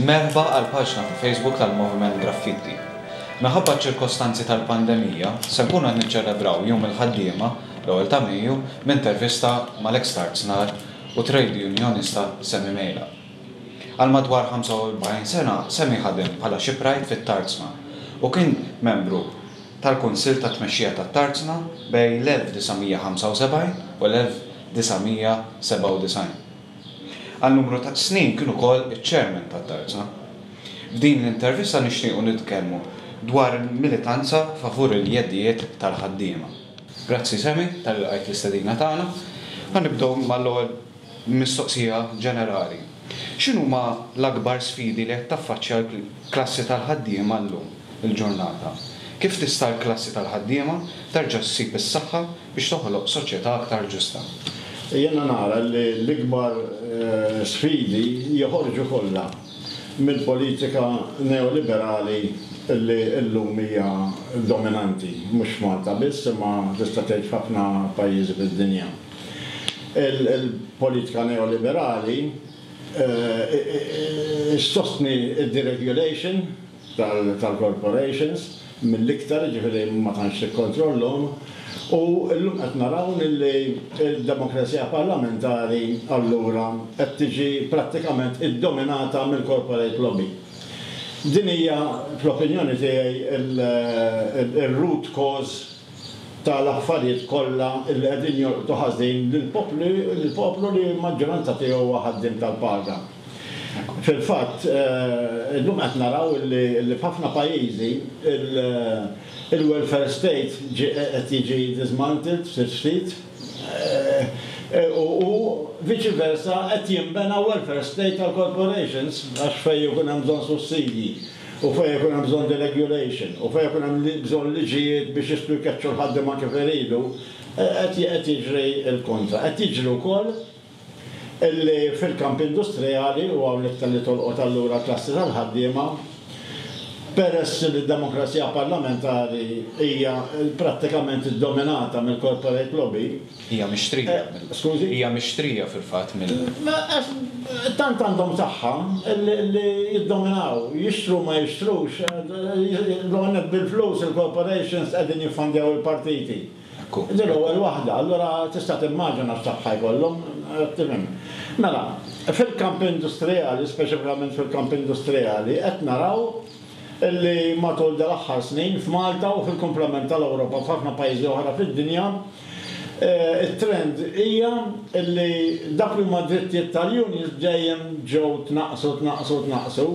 Merħba għall-paġna ta' Facebook tal-Moviment Graffiti. Minħabba ċ-ċirkostanzi tal-pandemija, se nkunu qed niċċelebraw Jum il-Ħaddiema, l-ewwel ta' Mejju, b'intervista mal-eks tarznar u trade unionista Sammy Mejla. Għal madwar 45 sena Sammy ħadem bħala shipwright fit-Tarzna u kien membru tal-Kunsill tat-Tmexxija tat-Tarzna bejn l-1975 u l-. 1997. Għal numru ta' snin kien ukoll iċ-Chairman tat-Tarza. F'din l-intervista nixtiequ nitkellmu dwar il-militanza favur il-jeddijiet tal-ħaddiema. Grazzi Sammy talli lqajt l-istedina tagħna. Ħa nibdew mal-ewwel mistoqsija ġenerali. X'inhuma l-akbar sfidi li qed taffaċċja l-klassi tal-ħaddiema llum il-ġurnata? Kif tista' l-klassi tal-ħaddiema terġa' ssib is-saħħa biex toħloq soċjetà aktar ġusta. Jiena nara li l-ikbar sfidi joħorġu kollha mill-politika neoliberali li llum hija dominanti, mhux f'Malta biss imma tista' tgħid f'ħafna pajjiżi fid-dinja. Il-politika neoliberali ssostni d-deregulation, tal-corporations mill-iktar, jiġifieri ma tantx tikkontrollhom, u llum qed naraw li d-demokrazija parlamentari allura qed tiġi prattikament iddominata mill-corporate lobby. Din hija fl-opinjoni tiegħi r-root cause tal-affarijiet kollha li qegħdin jolqtu ħażin lill-poplu li l-maġġoranza tiegħu huwa ħaddiem tal-paga. Fil-fatt, illum qed naraw li f'ħafna pajjiżi il-welfare state qed jiġi dismantled ftit ftit u viċi versa qed jinbena welfare state għall-corporations għax fejn ikun hemm bżonn sussidji u fejn ikun hemm bżonn deregulation u fejn ikun hemm bżonn liġijiet biex jistgħu jkeċċu l-ħaddiema kif iridu qed jiġri l-kontra. Qed jiġri wkoll Illi fil-kamp industrijali, u hawnhekk ta' li tolqot allura l-klassi tal-ħaddiema, peress li d-demokrazija parlamentari hija prattikament iddominata mill-corporate lobby, Hija mixtrija mill. Skużi? Hija mixtrija fil-fatt mill. Għax tant għandhom saħħa li jiddominaw, jixtru u ma jixtrux, l-ewwel nett bil-flus il-corporations qegħdin jiffandjaw il-partiti. Ekku. Din l-ewwel waħda, allura tista' timmaġina x'sabħa jkollhom, qed tifhem. Mela, fil-kamp industrijali, speċifikament fil-kamp industrijali, qed naraw li matul dal-aħħar snin f'Malta u fil-kumplament tal-Ewropa u f'ħafna pajjiżi oħra fid-dinja, it-trend hija li dawk li huma d-drittijiet tal-unions dejjem ġew tnaqqsu, tnaqqsu, tnaqqsu,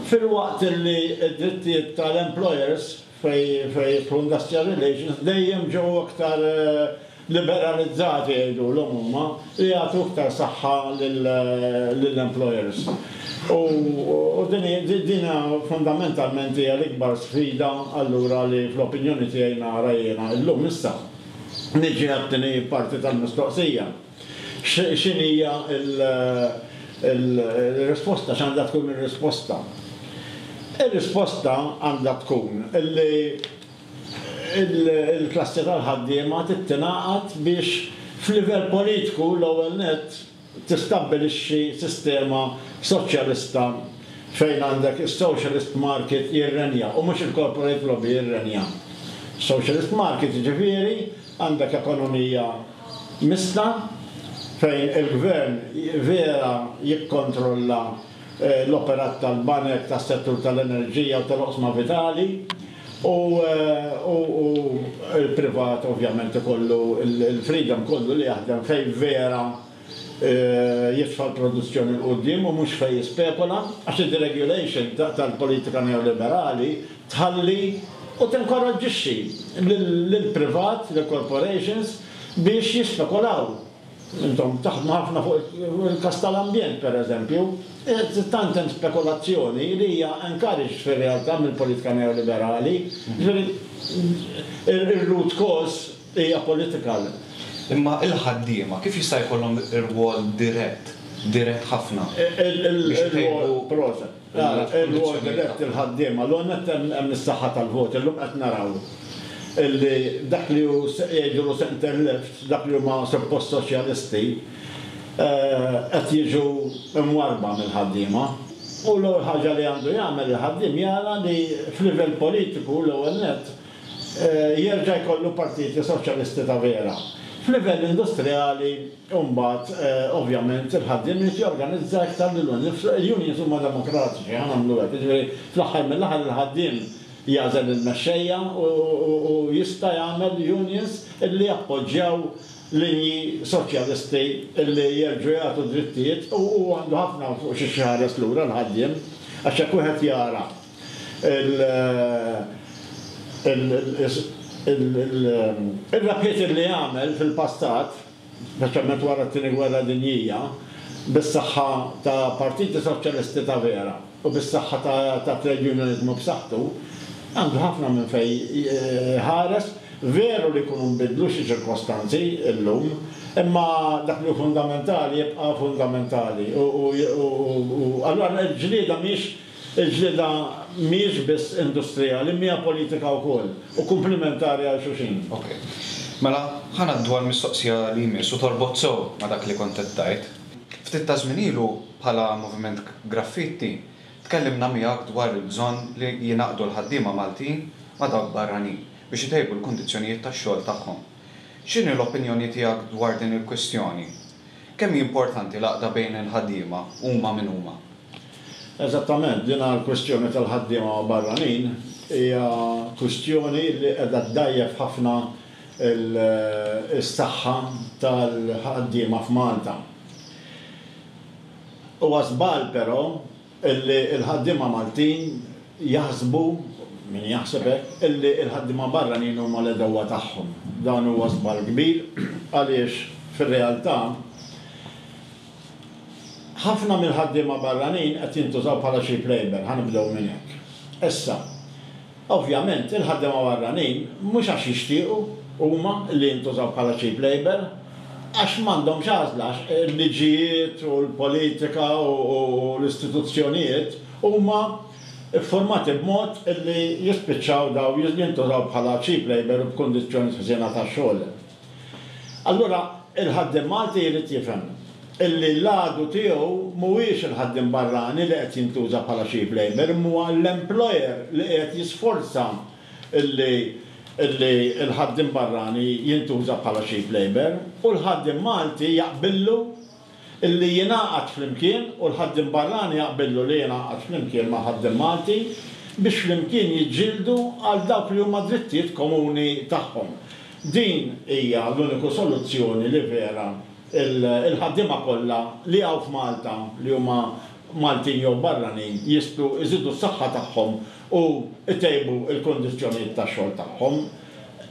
filwaqt li d-drittijiet tal-employers, fejn jidħlu industrial relations, dejjem ġew iktar liberalizzati jgħidulhom huma, li jagħtu iktar saħħa lill-employers. U din fundamentalment hija l-ikbar sfida allura li fl-opinjoni tiegħi nara jiena llum. Issa, niġi għat-tieni parti tal-mistoqsija. X'inhi hija r-risposta? X'għandha tkun ir-risposta? Ir-risposta għandha tkun li l-klassi tal-ħaddiema trid tingħaqad biex f'livell politiku l-ewwel nett tistabbilixxi sistema soċjalista fejn għandek is-socialist market jirrenja u mhux il-corporate lobby jirrenja. Socialist market jiġifieri għandek ekonomija mista, fejn il-gvern vera jikkontrolla l-operat tal-banek, tas-settur tal-enerġija u tal-oqsma vitali, u l-privat ovvjament ikollu l-freedom kollu li jaħdem fejn vera jitfa' l-produzzjoni 'l quddiem u mhux fejn jispekula, għax id-deregulation tal-politika neoliberali, tħalli u tinkoraġġixxi lill-privat, lill-corporations biex jispekulaw. Intom taħdmu ħafna fuq il-każ tal-ambjent, pereżempju. Tant hemm spekulazzjoni li hija encouraged fir-realtà mill-politika neoliberali. Jiġifieri, ir-root cause hija political. Imma l-ħaddiema kif jista' jkollhom rwol dirett, dirett ħafna, biex itejbu? Proset. Ara, il-ward elett, il-ħaddiema, l-ewwel nett hemm is-saħħa tal-voti. Illum qed naraw li dak li hu jgħidulu centre left, dak li huma suppost soċjalisti, qed jiġu mwarrba mill-ħaddiema. U l-ewwel ħaġa li għandu jagħmel il-ħaddiem jara li f'livell politiku, l-ewwel nett, jerġa' jkollu partiti soċjalisti ta' vera. F'livell industrijali, u mbagħad ovvjament il-ħaddiem irid jorganizza iktar lil nnifsu, il-unions huma demokratiċi, ħa nagħmlu hekk, jiġifieri fl-aħħar mill-aħħar il-ħaddiem jagħżel lill-mexxejja u jista' jagħmel unions li jappoġġjaw linji soċjalisti li jerġgħu jagħtu drittijiet u hu għandu ħafna fuq xiex iħares lura l-ħaddiem għax jekk wieħed jara Ir-rabħiet li għamel fil-passat, speċjalment wara t-Tieni Gwerra Dinjija, bis-saħħa ta' partiti soċjalisti ta' vera u bis-saħħa ta' trade unioniżmu b'saħħtu, għandu ħafna minn fejn iħares. Veru li jkunu nbidlu xi ċirkostanzi llum, imma dak li hu fundamentali jibqa' fundamentali u allura l-ġlieda mhijiex Il-ġlieda mhijiex biss industrijali imma hija politika wkoll u kumplimentari għal xulxin. Ok. Mela, ħa ngħaddu għall-mistoqsija li jmiss u torbot sew ma' dak li kont qed tgħid. Ftit ta' żmien ilu, bħala Moviment Graffitti, tkellimna miegħek dwar il-bżonn li jingħaqdu l-ħaddiema Maltin ma' dawk barranin biex itejbu l-kundizzjonijiet tax-xogħol tagħhom. X'inhi l-opinjoni tiegħek dwar din il-kwistjoni? Kemm hi importanti l-għaqda bejn il-ħaddiema, huma min huma? Eżattament, din l-kwistjoni tal-ħaddiema barranin hija kwistjoni li qiegħda ddgħajjef ħafna s-saħħa tal-ħaddiema f'Malta. Huwa żball però li l-ħaddiema Maltin jaħsbu, min jaħseb hekk, li l-ħaddiema barranin huma l-għedewwa tagħhom. Dan huwa żball kbir għaliex fir-realtà, Ħafna mill-ħaddiema barranin qed jintużaw bħala cheap labour, ħa nibdew minn hekk. Issa, ovvjament, il-ħaddiema barranin mhux għax jixtiequ huma li jintużaw bħala cheap labour, għax m'għandhomx għażla għax il-liġijiet u l-politika u l-istituzzjonijiet huma ffurmati b'mod li jispiċċaw dawn jintużaw bħala cheap labour u b'kundizzjonijiet ħżiena tax-xogħol. Allura, il-ħaddiem Malti jrid jifhem illi l-għadu tiegħu mhuwiex il-ħaddiem barrani li qed jintuża bħala cheap labour imma huwa l-employer li qiegħed jisforza illi l-ħaddiem barrani jintuża bħala cheap labour u l-ħaddiem Malti jaqbillu li jingħaqad flimkien u l-ħaddiem barrani jaqbillu li jingħaqad flimkien mal-ħaddiem Malti biex flimkien jiġġieldu għal dawk li huma drittijiet komuni tagħhom. Din hija l-uniku soluzzjoni li vera l-ħaddiema kollha li hawn f'Malta li huma Maltin jew barranin jistgħu jżidu s-saħħa tagħhom u jtejbu l-kundizzjonijiet tax-xogħol tagħhom.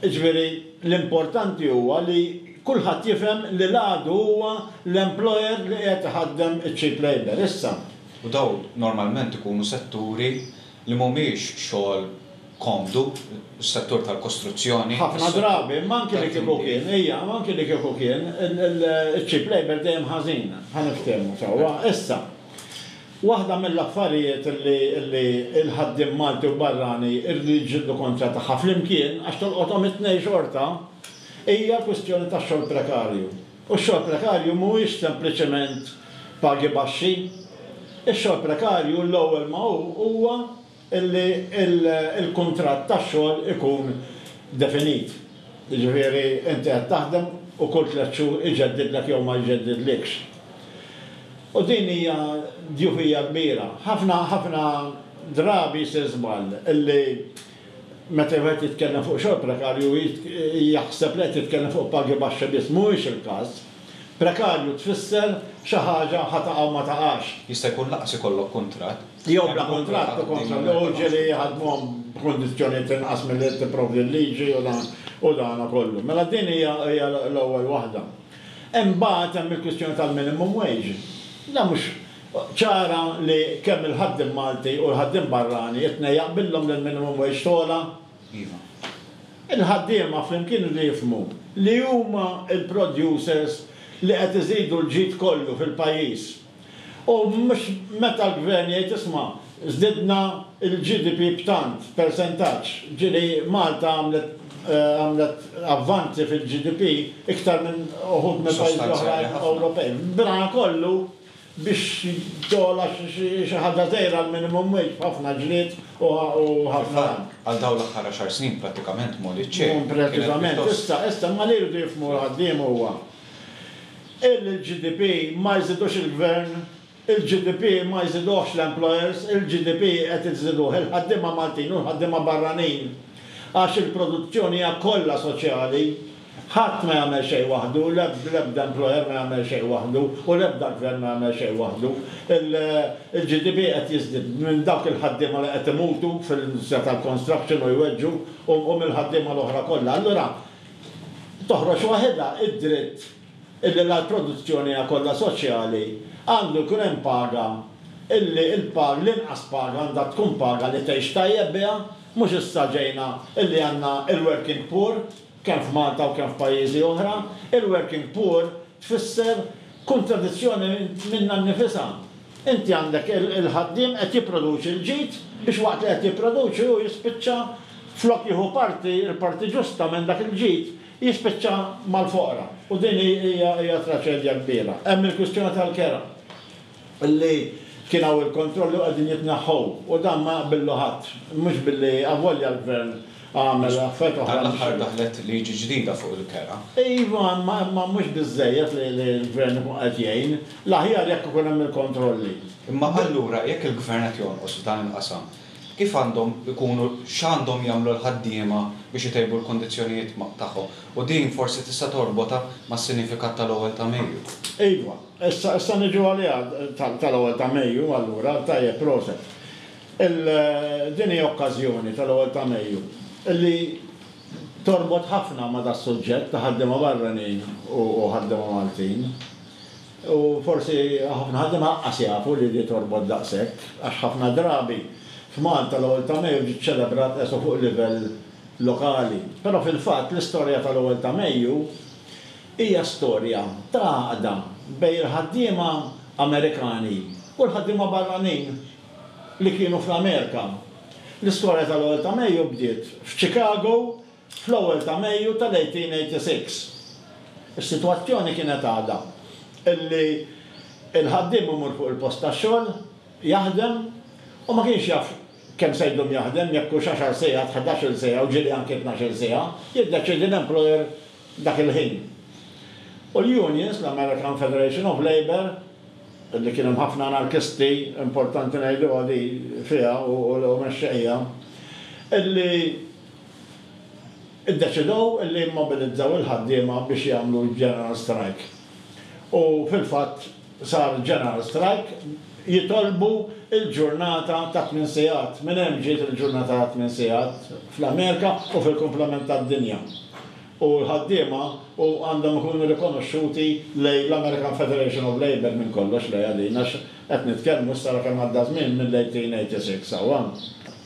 Jiġifieri l-importanti huwa li Kulħadd jifhem li l-għadu huwa l-employer li qiegħed iħaddem iċ-cheap labour. Issa. U dawn normalment ikunu setturi li mhumiex xogħol komdu, is-settur tal-kostruzzjoni, is-settur tal-tinjiet. Ħafna drabi, imma anki li kieku kien, ejja, imma anki li kieku kien, iċ-cheap labour dejjem ħażin, ħa niftehmu sewwa. Issa, waħda mill-affarijiet li l-ħaddiem Malti u barrani jridu jiġġieldu kontra tagħha flimkien, għax tolqothom it-tnejn xorta, Hija l-kwistjoni tax-xogħol prekarju. U x-xogħol prekarju mhuwiex sempliċement pagi baxxi. Ix-xogħol prekarju l-ewwel ma hu huwa li l-kuntratt tax-xogħol ikun definit. Jiġifieri inti qed taħdem u kull tliet xhur iġeddidlek jew ma jġeddidlikx. U din hija djufija kbira. Ħafna, ħafna drabi jsir żball li Meta wieħed jitkellem fuq xogħol prekarju jaħseb li qed jitkellem fuq pagi baxxi biss. Mhuwiex il-każ. Prekarju tfisser xi ħaġa ħa taqa' u ma taqax. Jista' jkun lanqas ikollok kuntratt. Jew bla kuntratt ukoll sa jew ġieli jħaddmuhom b'kundizzjonijiet inqas milli qed tipprovdi l-liġi u dan kollu. Mela din hija l-ewwel waħda. Imbagħad hemm il-kwistjoni tal-minimum wage. Dan mhux ċara li kemm il-ħaddiem Malti u l-ħaddiem barrani it-tnejn jaqbillhom li l-minimum wage togħla. Il-ħaddiema flimkien iridu jifhmu li huma l-producers li qed iżidu l-ġid kollu fil-pajjiż. U mhux meta l-Gvern jgħid isma' żdidna l-GDP b'tant persentaġġ, ġieli Malta għamlet għamlet avvanzi fil-GDP iktar minn uħud mill-pajjiżi l-oħrajn Ewropej. B'dana kollu, biex jogħla xi ħaġa żgħira l-minimum wage b'ħafna ġlied u ħafna. Fil-fatt, għal dawn l-aħħar għaxar snin prattikament Mollie C. kienet pjuttost. Preċiżament. Issa, issa, imma li jridu jifhmu l-ħaddiema huwa illi l-GDP ma jżidux il-Gvern, il-GDP ma jżiduhx l-employers, il-GDP qed iżiduh il-ħaddiema Maltin u l-ħaddiema barranin għax il-produzzjoni hija kollha soċjali. Ħadd ma jagħmel xejn waħdu, l-ebda employer ma jagħmel xejn waħdu u l-ebda gvern ma jagħmel xejn waħdu. Il-GDP qed jiżdied minn dawk il-ħaddiema li qed imutu fl-industrija tal-construction u jweġġu u mill-ħaddiema l-oħra kollha. Allura toħroġ waħidha d-dritt illi la l-produzzjoni hija kollha soċjali, għandu jkun hemm paga illi l-inqas paga għandha tkun paga li tgħix tajjeb biha, mhux issa ġejna illi għandna il-working poor. kemm f'Malta u kemm f'pajjiżi oħra, il-working poor tfisser kuntradizzjoni minnha nnifisha. Inti għandek il-ħaddiem qed jipproduċi l-ġid biex waqt li qed jipproduċi hu jispiċċa flok jieħu parti, l-parti ġusta minn dak il-ġid, jispiċċa mal-foqra. U din hija traċedja kbira. Hemm il-kwistjoni tal-kera. li kien hawn il-kontrolli u qegħdin jitneħħu u dan ma jaqbillu ħadd, mhux billi avolja l-Gvern għamel affarijiet oħra. Dan l-aħħar daħlet liġi ġdida fuq il-kera. Iva, imma mhux biżżejjed li l-Gvern ikun qed jgħin. L-aħjar jekk ikun hemm il-kontrolli. Imma allura jekk il-Gvern qed jonqos f'dan il-qasam, kif għandhom ikunu, x'għandhom jagħmlu l-ħaddiema biex itejbu l-kundizzjonijiet tagħhom? U din forsi tista' torbotha mas-sinifikat tal-Ewwel ta' Mejju. Iva. Issa, issa niġu għaliha tal-ewwel ta' Mejju, allura, tajjeb, proset. Il, din hi okkażjoni, tal-ewwel ta' Mejju, li torbot ħafna ma' das-suġġett ta' ħaddiema barranin u ħaddiema Maltin. U forsi ħafna ħaddiema laqqas jafu li di torbot daqshekk, għax ħafna drabi f'Malta l-ewwel ta' Mejju ġiet ċelebrat eso fuq livell lokali. Però fil-fatt l-istorja tal-ewwel ta' Mejju Hija storja ta' għaqda bejn il-ħaddiema Amerikani u l-ħaddiema barranin li kienu fl-Amerika. L-istorja tal-ewwel ta' Mejju bdiet f'Chicago fl-ewwel ta' Mejju tal-1886. Is-sitwazzjoni kienet għadha li l-ħaddiem imur fuq il-post tax-xogħol jaħdem u ma kienx jaf kemm se jdum jaħdem, jekk hux għaxar siegħat, ħdax-il siegħa u ġieli anki tnax-il siegħa, jiddeċiedi l-employer dak il-ħin. U l-unions, l-American Federation of Labour, li kien hemm ħafna anarkisti, importanti ngħiduha di fiha u mexxejja, illi ddeċidew illi jimmobilizzaw il-ħaddiema biex jagħmlu l-general strike. U fil-fatt. sar general strike, jitolbu l-ġurnata ta' tmien sigħat. Minn hemm ġiet il-ġurnata ta' tmien sigħat fl-Amerika u fil-kumplament tad-dinja. U l-ħaddiema u għandhom ikunu rikonoxxuti lejn l-American Federation of Labour minn kollox lejha din għax qed nitkellmu issa ara kemm għadda żmien mill-1886 sawha.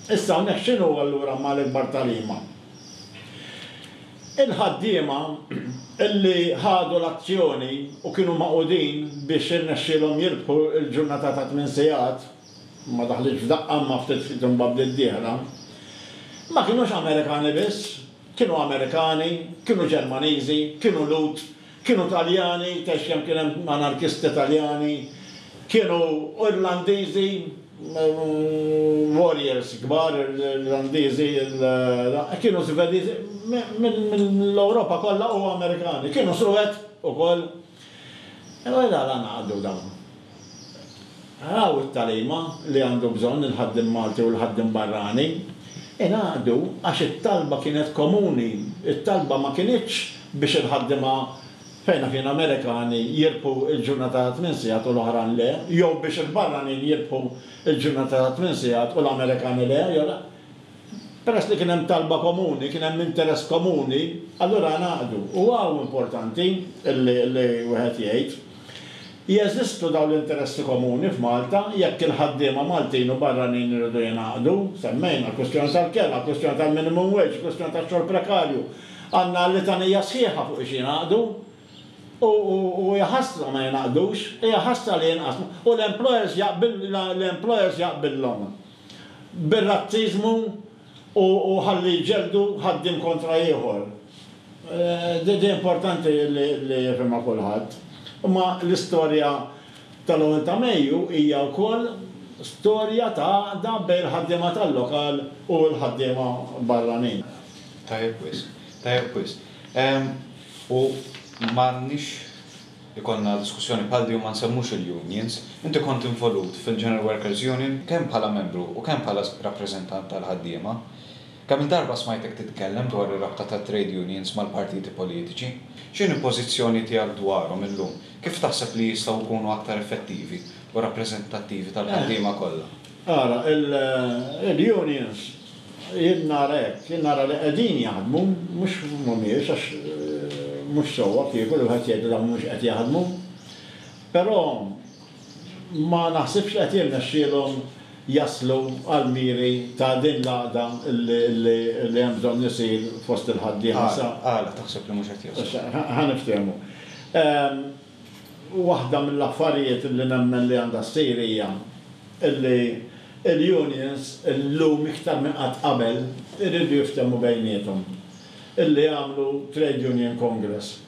Issa hawnhekk x'inhu allura ma l-ikbar tagħlima? Il-ħaddiema li ħadu l-azzjoni u kienu magħqudin biex irnexxielhom jirbħu l-ġurnata ta' tmien sigħat, ma daħlitx f'daqqa imma ftit ftit imbagħad bdiet dieħla, ma kinux Amerikani biss, kienu Amerikani, kienu Ġermaniżi, kienu Lhud, Kienu Taljani, għax hemm kien hemm anarkisti Taljani, kienu Irlandiżi, warriors kbar Irlandiżi, kienu Żvediżi, mill-Ewropa kollha u Amerikani. Kienu Suwed ukoll. Imma għala ngħaqdu dawn? Raw it-tagħlima li għandu bżonn il-ħaddiem Malti u l-ħaddiem barrani. Ingħaqdu għax it-talba kienet komuni. It-talba ma kinitx biex il-ħaddiema fejn naf jien Amerikani jirbħu l-ġurnata ta' tmien sigħat u l-oħran le, jew biex il-barranin jirbħu l-ġurnata ta' tmien sigħat u l-Amerikani le. Peress li kien hemm talba komuni, kien hemm interess komuni, allura ngħaqdu. U hawn importanti li wieħed jgħid, jeżistu dawn l-interessi komuni f'Malta jekk il-ħaddiema Maltin u barranin iridu jingħaqdu. Semmejna l-kwistjoni tal-kera, l-kwistjoni tal-minimum wage, il-kwistjoni tax-xogħol prekarju. Għandna litanija sħiħa fuq ix jingħaqdu. U hija ħasra ma jingħaqdux. Hija ħasra li jinqasmu. U l-employers jaqbillhom. bir-razziżmu u ħalli jġelldu ħaddiem kontra ieħor. Din importanti li jifhimha kulħadd. Imma l-istorja tal-ewwel ta' Mejju hija wkoll storja ta' għaqda bejn il-ħaddiema tal-lokal u l-ħaddiema barranin. Tajjeb wisq. Tajjeb wisq. U m'għandniex. ikollna diskussjoni bħal din u ma nsemmux il-unions. Inti kont involut fil-General Workers Union kemm bħala membru u kemm bħala rappreżentant tal-ħaddiema. Kemm-il darba smajtek titkellem dwar ir-rabta tat-trade unions mal-partiti politiċi? X'inhi l-pożizzjoni tiegħek dwarhom illum? Kif taħseb li jistgħu jkunu aktar effettivi u rappreżentattivi tal-ħaddiema kollha? Ara, il-unions, jien nara hekk, jien nara li qegħdin jaħdmu, mhux mhumiex għax mhux sewwa kieku li wieħed jgħid li dawn mhumiex qed jaħdmu. Però ma naħsibx li qed jirnexxielhom jaslu għall-miri ta' din l-għaqda li hemm bżonn isir fost il-ħaddiema sa. Għala taħseb li mhux qed jaslu? Ħa niftehmu. U waħda mill-affarijiet li nemmen li għandha ssir hija li l-unions illum iktar minn qatt qabel iridu jiftehmu bejniethom. Illi jagħmlu trade union congress,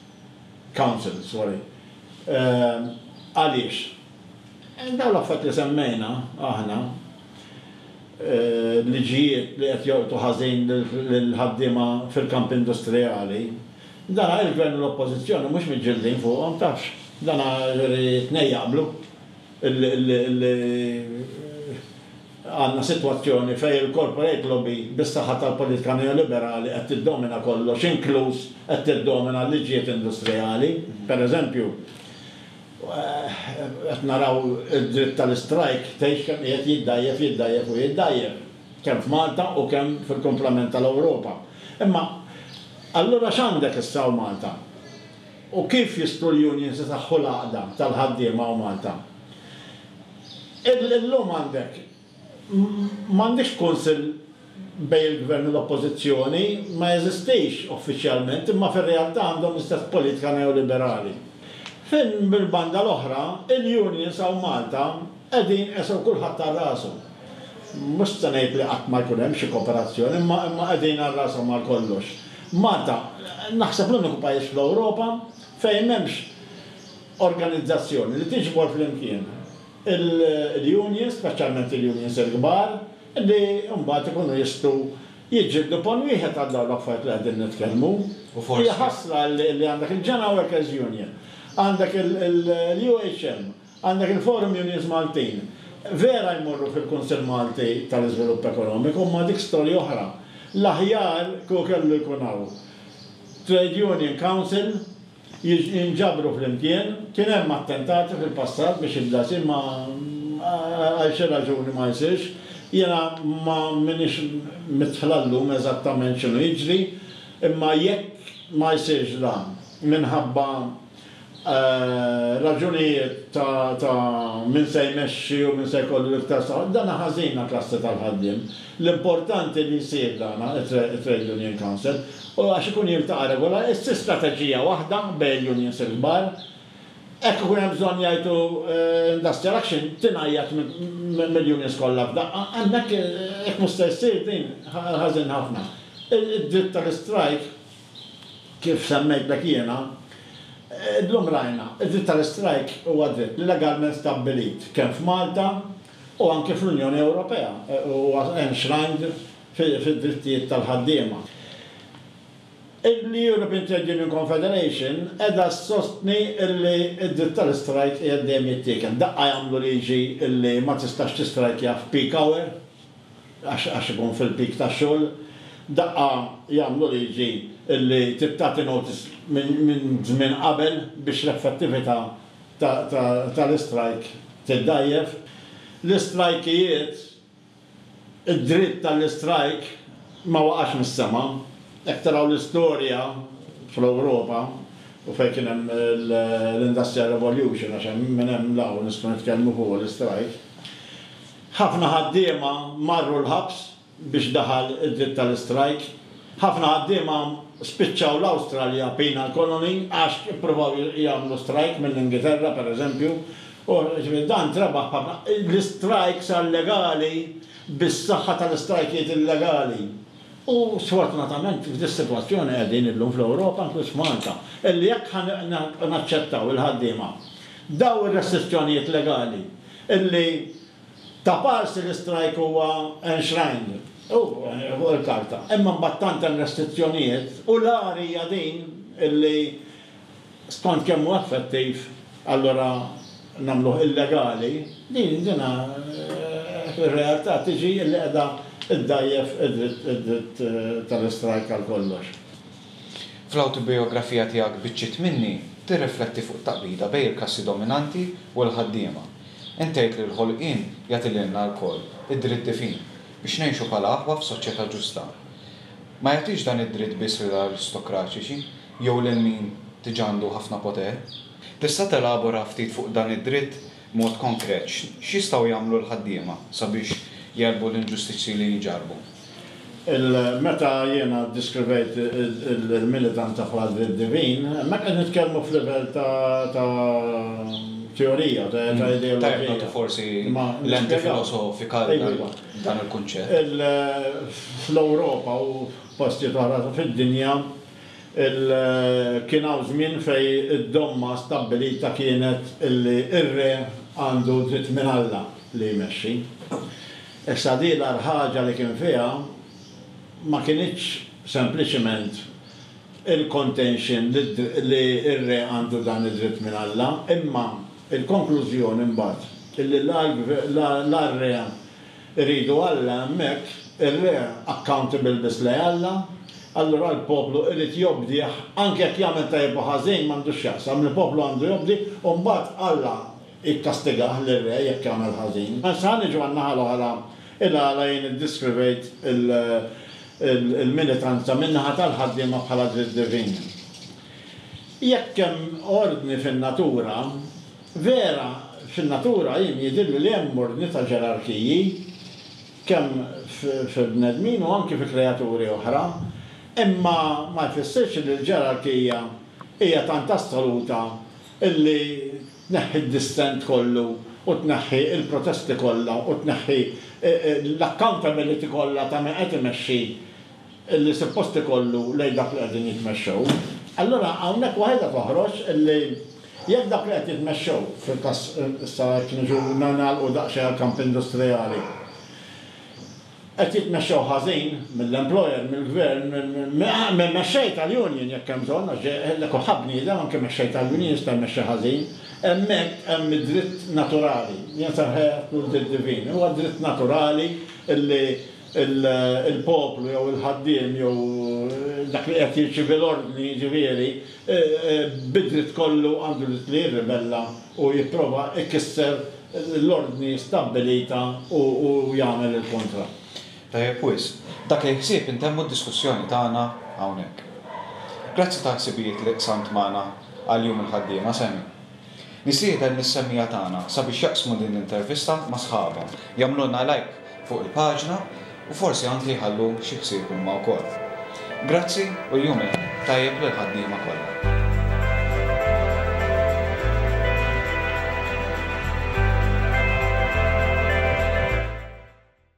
council, sorry. Għaliex? Dawn l-affarijiet li semmejna aħna, liġijiet li qed jolqtu ħażin lill-ħaddiema fil-kamp industrijali, Dana il-Gvern u l-Oppożizzjoni mhux miġġildin fuqhom, tafx. Dana juri t-tnejn jaqblu li għandna sitwazzjoni fejn il-corporate lobby bis-saħħa tal-politika neoliberali qed tiddomina kollox, inkluż qed tiddomina l-liġijiet industrijali. Per eżempju, qed naraw id-dritt tal-istrajk tgħix kemm qiegħed jiddgħajjef, jiddgħajjef u jiddgħajjef. kemm f'Malta u kemm fil-kumplament tal-Ewropa. Imma allura x'għandek issa hawn Malta? U kif jistgħu l-unions isaħħu l-għaqda tal-ħaddiema hawn Malta? Illum għandek, m'għandekx kunsill bejn il-Gvern u l-Oppożizzjoni, ma jeżistix uffiċjalment, imma fir-realtà għandhom l-istess politika neoliberali. Fejn mill-banda l-oħra, il-unions hawn Malta qegħdin qesew kulħadd għal rasu. Mhux se ngħid li qatt ma jkun hemm xi kooperazzjoni, imma imma qegħdin għal rashom għal kollox. Malta, naħseb l-uniku pajjiż fl-Ewropa fejn m'hemmx organizzazzjoni li tiġbor flimkien il-unions, speċjalment il-unions il-kbar, li mbagħad ikunu jistgħu jiġġieldu pon wieħed għal dawn l-affarijiet li qegħdin nitkellmu. Hija ħasra li għandek il-General Workers' Union, għandek il-UHM, Għandek il-Forum Unions Maltin. Vera jmorru fil-Kunsill Malti tal-Iżvilupp Ekonomiku imma dik storja oħra. L-aħjar kieku kellu jkun hawn Trade Union Council, jinġabru flimkien, kien hemm attentati fil-passat biex jibda jsir ma għal xi raġuni ma jsirx. Jiena ma m'iniex midħla llum eżattament x'inhu jiġri imma jekk ma jsirx dan minħabba raġunijiet ta' min se jmexxi u min se jkollu l-iktar saħħa, dan ħażina klassi tal-ħaddiem. L-importanti li jsir dan it-Trade Union Council u għax ikun jiltaqa' regolarment, issir strateġija waħda bejn il-unions il-kbar, hekk ikun hemm bżonn jgħidu industrial action tingħajjat mill-unions kollha f'daqqa, hemmhekk jekk mhux se ssir din ħażin ħafna. Id-dritt tal-istrajk. Kif semmejtlek jiena, illum rajna, id-dritt tal-istrajk huwa dritt li legalment stabbilit kemm f'Malta u anki fl-Unjoni Ewropea, huwa enshrined fid-drittijiet tal-ħaddiema. Il-European Trade Union Confederation qiegħda ssostni li d-dritt tal-istrajk qiegħed dejjem jittiekel. Daqqa jagħmlu liġi li ma tistax tistrajkja f'peak hour? għax ikun fil-peak tax-xogħol, daqqa jagħmlu liġi li tagħti notice minn żmien qabel biex l-effettività tal-istrajk tiddgħajjef. L-istrajkijiet, id-dritt għall-istrajk ma waqax mis-sema. Jekk taraw l-istorja fl-Ewropa u fejn kien hemm l-Industrial Revolution, għax minn hemm 'l hawn nistgħu nitkellmu fuq l-istrajk, Ħafna ħaddiema marru l-ħabs biex daħal id-dritt tal-istrajk. Ħafna ħaddiema spiċċaw l-Awstralja penal colony għax ippruvaw jagħmlu strajk mill-Ingilterra, per eżempju, u ġifieri dan trebaħ b'ħafna. L-istrajk sar legali bis-saħħa tal-istrajkijiet illegali. U sfortunatament f'dis-sitwazzjoni qegħdin illum fl-Ewropa, inkluż f'Malta, illi jekk ħa naċċettaw il-ħaddiema b'dawn ir-restrizzjonijiet legali, Illi ta' parsi l-istrajk huwa enshrined fuq il-karta, imma mbagħad tant hemm restrizzjonijiet u l-agħar hija din illi skont kemm hu effettiv allura nagħmluh illegali, din din fir-realtà tiġi illi qiegħda ddgħajjef id-dritt tal-istrajk għal kollox. Fl-awtobijografija tiegħek Biċċiet Minni, tirrifletti fuq it-taqbida bejn il-klassi dominanti u l-ħaddiema. Int tgħid li l-ħolqien jagħti lilna lkoll id-dritt divin biex ngħixu bħala aħwa f'soċjetà ġusta. Ma jagħtix dan id-dritt biss lill-aristokraċiċi jew lil min diġà għandu ħafna poter. Tista' telabora ftit fuq dan id-dritt B'mod konkret, x'jistgħu jagħmlu l-ħaddiema sabiex jegħlbu l-inġustizzji li jinġarrbu? Il-meta jiena ddiskrivejt il-militanta bħala dritt divin, hemmhekk qed nitkellmu f'livell ta' ta' teorija, ta' ta' ideoloġija. Tajjeb nagħtu forsi lenti filosofika għal dan il-kunċett. Il, fl-Ewropa u f'postijiet oħra fid-dinja, Kien hawn żmien fejn id-domma stabbilita kienet li r-re għandu dritt minn Alla li jmexxi. Issa din l-agħar ħaġa li kien fiha ma kinitx sempliċiment il-contention li r-re għandu dan id-dritt minn Alla, imma l-konklużjoni mbagħad li la r-re, Iridu Alla hemmhekk, ir-re accountable biss lej Alla, allura l-poplu irid jobdih anke jekk jagħmel tajjeb u ħażin m'għandux x'jaqsam, il-poplu għandu jobdi u mbagħad Alla jikkastigah lir-re jekk jagħmel ħażin. Issa ħa niġu għan-naħa l-oħra, il-għala jien iddiskrivejt il-militanza min-naħa tal-ħaddiema bħala dritt divin. Jekk hemm ordni fin-natura, Vera, fin-natura jien jidhirli li hemm ordni ta' ġerarkiji, kemm fil-bnedmin u anki fi kreaturi oħra, imma ma jfissirx li l-ġerarkija hija tant assoluta li tneħħi d-dissent kollu u tneħħi l-protesti kollha u tneħħi l-accountability kollha ta' min qed imexxi li suppost ikollu lejn dawk li qegħdin jitmexxew, allura hawnhekk waħedha toħroġ li jekk dawk li qed jitmexxew, fil-każ issa jekk niġu nagħlqu daqsxejn għall-kamp industrijali, qed jitmexxew ħażin mill-employer, mill-gvern, mill-mexxej tal-union jekk hemm bżonn għax le kulħadd bniedem, anke mexxej tal-union jista' jmexxi ħażin, hemmhekk hemm id-dritt naturali, jien se nsejħilek l-dritt divin, huwa dritt naturali li, il-poplu jew il-ħaddiem jew dak li qed jirċievi l-ordni jiġifieri, bid-dritt kollu għandu dritt li jirribella u jipprova jkisser l-ordni stabbilita u jagħmel il-kontra. Tajjeb wisq. B'dak il-ħsieb intemmu d-diskussjoni tagħna hawnhekk. Grazzi tal-ħsibijiet li qsamt magħna għal Jum il-Ħaddiema, Sammy. Nistieden lis-semmiegħa tagħna sabiex jaqsmu din l-intervista ma' sħabhom, jagħmlulna lajk fuq il-paġna u forsi anki jħallu xi ħsieb huma wkoll. Grazzi u l-jum il-Ħadd tajjeb lill-ħaddiema kollha.